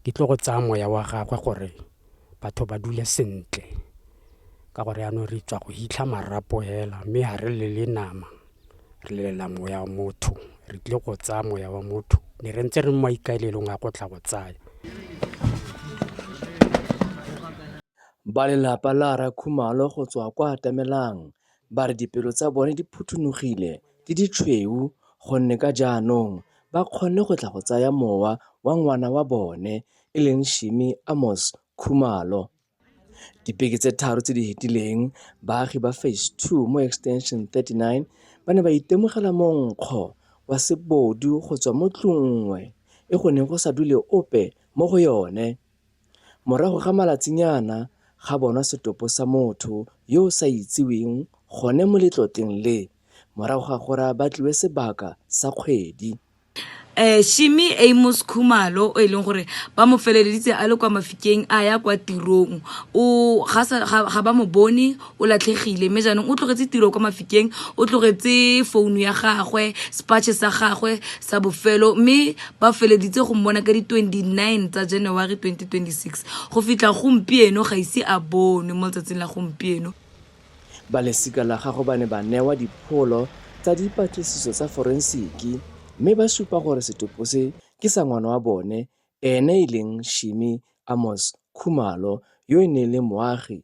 Ke tlo go tsaya moya wa gagwe gore batho ba dule sentle ka gore yaanong re tswa go hitlha marapo hela mme ga re lele nama re lelela moya wa motho re tlile go tsaya moya wa motho ne re ntse re mo maikaelelong a go tla go tsaya Ba lelapa la Rre Khumalo go tswa kwa Atamelang Ba re dipelo tsa bone di phuthunogile di ditshweu gonne ka jaanong ba kgonne go tla go tsaya mowa wa ngwana wa bone e leng Shimi Amos Khumalo. Dibeke tse tharo tse di fetileng baagi ba Phase Two mo Extension 39 ba ne ba itemogela monkgo wa sebodu go tswa mo tlung nngwe e go neng go sa dule ope mo go yone. Morago ga malatsinyana ga bonwa setopo sa motho yo o sa itseweng gone mo letlotleng le, morago ga gore a batliwe sebaka sa kgwedi. Shimmy Amos Khumalo o e leng gore ba mo feleleditse a le kwa Mafikeng a ya kwa tirong o ga ba mo bone o latlhegile mme jaanong o tlogetse tiro kwa mafikeng o tlogetse founu ya gagwe spatšhe sa gagwe sa bofelo mme ba feleditse go mmona ka di-29 tsa january 2026 go fitlha gompieno ga ise a bonwe mo letsatsing la gompieno ba lesika la gago ba ne ba newa dipholo tsa dipatlisiso tsa forensiki mme ba supa gore setopo se ke sa ngwana wa bone ene e leng shimi amos khumalo yo e neng e le moagi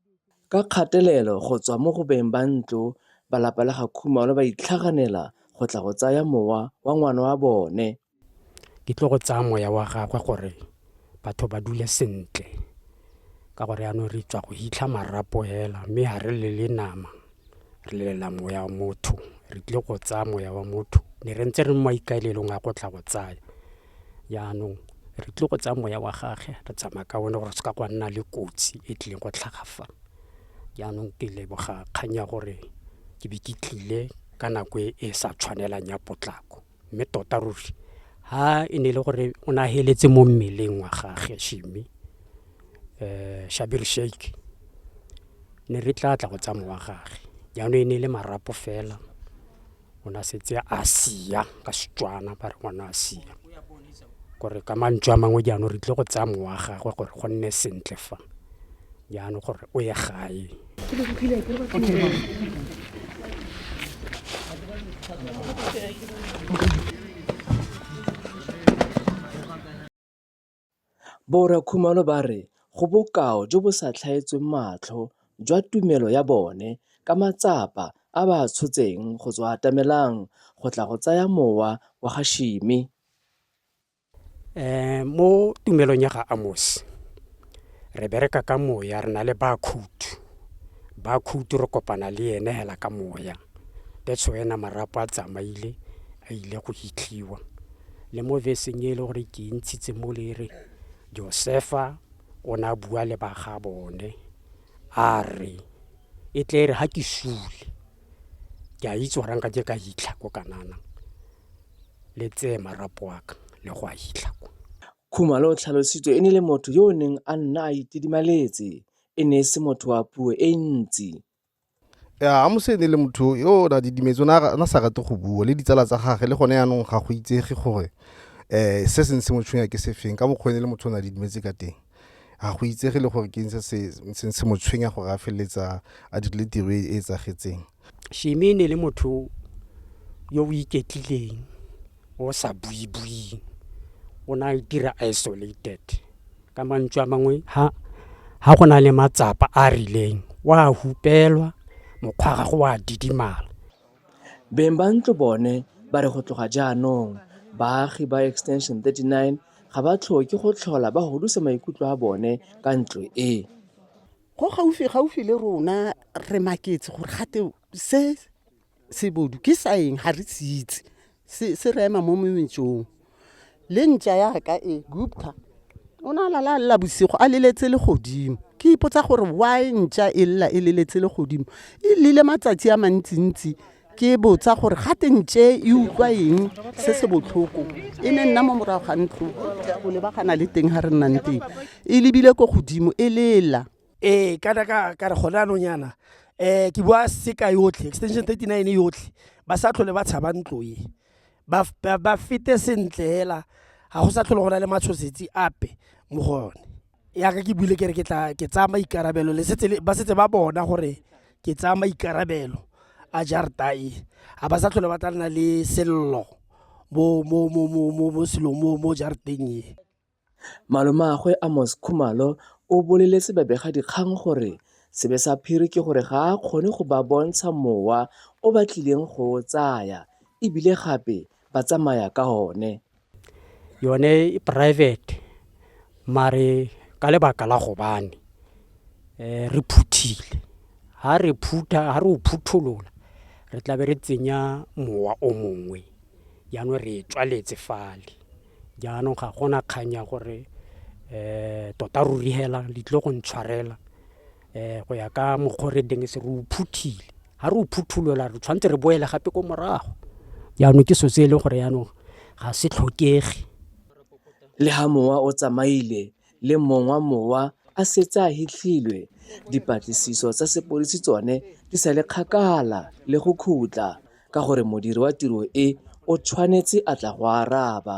Ka kgatelelo go tswa mo go beng ba ntlo, balapa la ga Khumalo ba itlhaganela go tla go tsaya mowa wa ngwana wa bone. Ke tlo go tsaya moya wa gagwe gore batho ba dule sentle ka gore yanong re tswa go hitlha marapo hela mme ha re lele nama, re lelela moya wa motho. Re tlile go tsaya moya wa motho, ne re ntse re mo maikaelelong a go tla go tsaya. Jaanong re tlile go tsaya moya wa gage re tsamaya ka one gore se ka gwa nna le kotsi e tlileng go tlhaga fa. Jaanong ke leboga kgang ya gore ke be ke tlile ka nako e e sa tshwanelang ya potlako. Mme tota ruri ha e ne e le gore o ne a feletse mo mmeleng wa gage Shammy, Schabir Shaik, ne re tla tla go tsaya mowa wa gage. Jaanong e ne e le marapo fela. Ngwana a setse a sia, ka Setswana ba re ngwana a sia. Kore ka mantswe a mangwe jaanong re tlile go tsaya mowa wa gagwe gore go nne sentle fa, jaanong gore o ye gae. Borra Khumalo ba re go bokao jo bo sa tlhaetsweng matlho jwa tumelo ya bone ka matsapa a ba a tshotseng go tswa atamelang go tla go tsaya mowa wa ga Shimi. Mo tumelong ya ga Amos re bereka ka moya re na le ba khutu. ba khuti re kopana le ene hela ka moya that's wena marapo a tsamaile a ile go hitlhiwa le mo veseng e le gore ke e ntshitse mo le re josefa o ne a bua le ba ga bone a re e tle e re ga ke sule ke a itse gore nka ke ka hitlha ko kanana le tseye marapo wa ka le go a hitlha ko khumalo o tlhalositse e ne le motho yo o neng a nna a itidimaletse e ne e se motho wa puo e ntsi. Ya, Amose e ne e le motho yo o na didimetse, o ne a sa rate go bua le ditsala tsa gage, le gone yaanong ga go itsege gore um se se ne se mo tshwenya ke sefeng ka mokgwa e ne le motho o ne a didimetse ka teng. Ga go itsege le gore ke eng se se se mo tshwenya gore a feleletsa a dirile tiro e e tsagetseng. Shimi e ne e le motho yo o iketlileng o sa buibuing, o ne a itira isolated Ka mantswe a mangwe, ha ha go na le matsapa a a rileng, o a hupelwa, mokgwa wa gagwe o a didimala. Beng ba ntlo bone ba re go tloga jaanong, baagi ba Extension 39 ga ba tlhoke go tlhola ba hudusa maikutlo a bone ka ntlo e. Go gaufi-gaufi le rona re maketse gore gate se sebodu ke sa eng ga re se itse se se re ema mo metsong le ntša yaka e gupta o ne a lala a lela bosigo a leletse le godimo ke ipotsa gore why ntša e lela e leletse le godimo e lile matsatsi a mantsintsi ke botsa gore ga te ntše e utlwa eng se se botlhoko e ne nna mo morago ga ntlo o lebagana le teng ga re nnang teng e lebile ko godimo e lela ee kana ka ka re gone anong yana um ke bua seka yotlhe extension thirty nine yotlhe ba sa tlhole ba tshaba ntlo e ba, ba, ba fete sentle hela ga go sa tlhole go na le matshosetsi ape mo go yone yaka ke buile kere ke tla ke tsaya maikarabelo le setse le- ba setse ba bona gore ke tsaya maikarabelo a jarta e ga ba sa tlhole ba tla nna le sello mo mo mo mo mo mo silong mo mo jarteng e Malomagwe Amos Khumalo o boleletse babegadikgang gore sebe sa phiri ke gore ga a kgone go ba bontsha mowa o ba tlileng go o tsaya e bile gape ba tsamaya ka one. Yone e private mare ka lebaka la gobane um re phuthile ha re phutha ha re o phutholola re tlabe re tsenya mowa o mongwe jaanong re e tswaletse fale. Jaanong ga gona kgang ya gore um tota ruri hela di tlile go ntshwarela um go ya ka mokgwa o re deng se re o phuthile ga re o phuthulola re tshwanetse re boele gape ko morago jaanong ke so se e leng gore jaanong ga se tlhokege le ga mowa o tsamaile le mongwa mowa a setse a hitlhilwe, dipatlisiso tsa sepodisi tsone di sa le kgakala le go khutla ka gore modiri wa tiro e o tshwanetse a tla go araba.